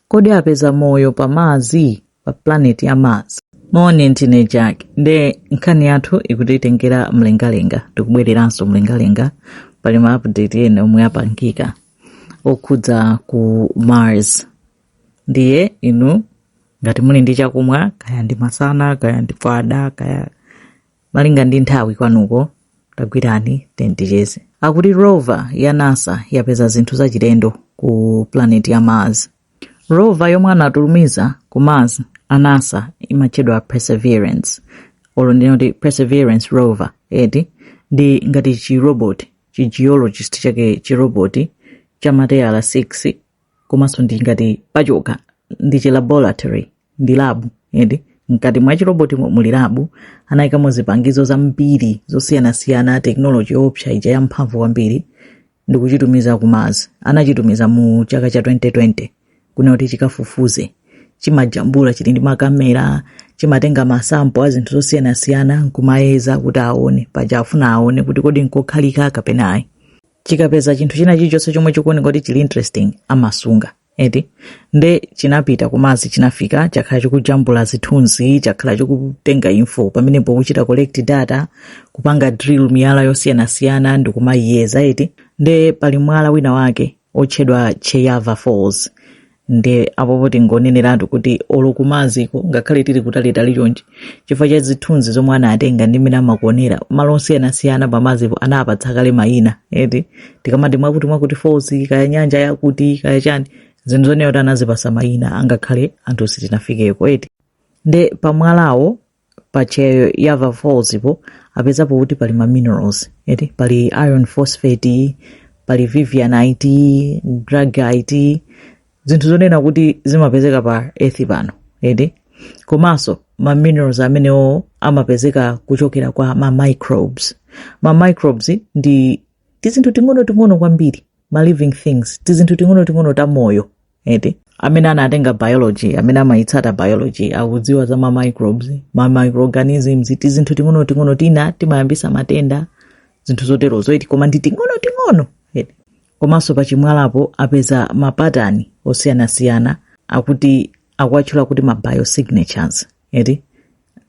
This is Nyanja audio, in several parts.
Kodi apeza moyo pa Mars? Pa planet ya Mars. Moni ndine Jack. Nde nkhani yathu ikutitengera mlengalenga. Tikubwereranso mlengalenga pali ma update ena omwe apangika okhudza ku Mars. Ndiye inu ngati muli ndi chakumwa kaya ndi masana kaya ndi fada kaya malinga ndi nthawi kwanuko tagwirani tea ticheze akuti rover ya nasa yapeza zinthu zachilendo ku planeti ya mars rover yomwe anatumiza ku mars a nasa imatchedwa perseverance olo ndingoti perseverance rover eti ndi ngati chiroboti chigeologist chake chiroboti cha matayala 6 komanso ndi ngati pachokha ndi chilaboratory ndi labu ende mkati mwa chirobotimo muli labu anayikamo zipangizo zambiri zosiyanasiyana tekinoloji yoopsa ija yamphamvu kwambiri ndi kuchitumiza ku mars anachitumiza mu chaka cha 2020 kuti chikafufuze chimajambula chili ndi makamera chimatenga masampo a zinthu zosiyanasiyana nkumayeza kuti aone paja afuna aone kuti kodi nkokhalika kapena ayi chikapeza chinthu china chilichonse chomwe chikuoneka kuti chili interesting amasunga eti nde chinapita ku mars chinafika chakhala chikujambula zithunzi chakhala chikutenga info pamenepo kuchita collect data kupanga drill miyala yosiyanasiyana ndi kumayiyeza eti nde pali mwala wina wake otchedwa cheyava falls nde apopo ndingoneneratu kuti olo ku marsko ngakhale tili kutalitali chonchi chifukwa cha zithunzi zomwe anatenga ndi mmene amakuonera malo osiyanasiyana pa marspo anapatsa kale mayina eti tikamati mwakuti mwakuti falls kaya nyanja yakuti kaya chani zinthu zonena kuti anazipasa mayina angakhale anthu sitinafikeko eti nde pamwalawo pa cheyava falls po apezapo kuti pali ma minerals eti pali iron phosphate pali vivianite greigite zinthu zonena kuti zimapezeka pa earth pano eti komanso ma minerals amenewo amapezeka kuchokera kwa ma microbes ma microbes ndi tizinthu ting'onoting'ono kwambiri ma living things tizinthu ting'onoting'ono ta moyo eti amene anatenga biology amene amayitsata biology akudziwa za ma microbes ma microorganisms tizinthu ting'onoting'ono tina timayambisa matenda zinthu zoterozo eti koma ndi ting'onoting'ono eti komanso pa chimwalapo apeza mapatani osiyanasiyana akuti akuwatchula kuti ma biosignatures eti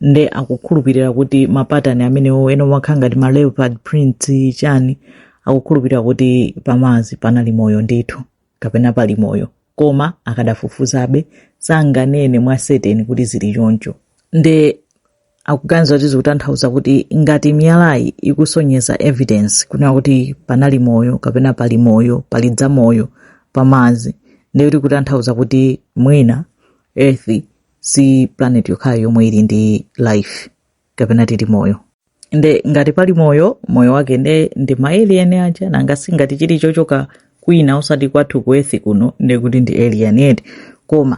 nde akukhulupirira kuti mapatani amenewo ena omakhala ngati ma leopard prints chani akukhulupirira kuti pa mars panali moyo ndithu kapena pali moyo koma akadafufuzabe sanganene mwa certain kuti zili choncho nde akuganiza kuti zikutanthauza kuti ngati miyalayi ikusonyeza evidence kunena kuti panali moyo kapena pali moyo pali zamoyo pa mars ndiye kuti kutanthauza kuti mwina earth si planet yokhayo yomwe ili ndi life kapena tili moyo nde ngati pali moyo moyo wake nde ndi maelian aja nanga si ngati chili chochoka kwina osati kwathu ku earth kuno nde kuti ndi alien eti koma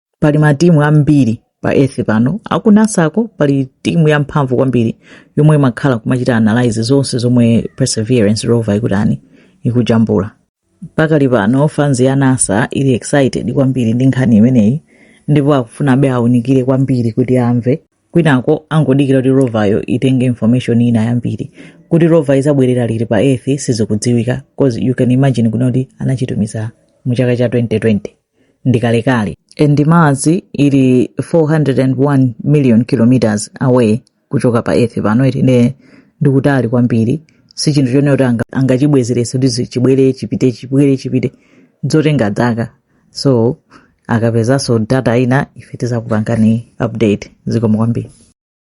pali matimu ambiri pa earth pano akunasako pali timu yamphamvu kwambiri yomwe imakhala kumachita analyze zonse zomwe perseverance rover ikutani ikujambula pakali pano fans ya nasa ili excited kwambiri ndi nkhani imeneyi ndipo akufunabe aunikire kwambiri kuti amve kwinako angodikira kuti rovayo itenge information ina yambiri kuti rova izabwerera liti pa earth sizikudziwika cause you can imagine kunena kuti anachitumiza mu chaka cha 2020 ndikalekale and mars ili 401 million kilometers away kuchoka pa earth pano eti nde ndikutali kwambiri si chinthu chonena kuti anga- angachibwezeretse kuti zi- chibwere chipite chibwere chipite zotenga dzaka so akapezanso data ina ife tizakupangani update zikomo kwambiri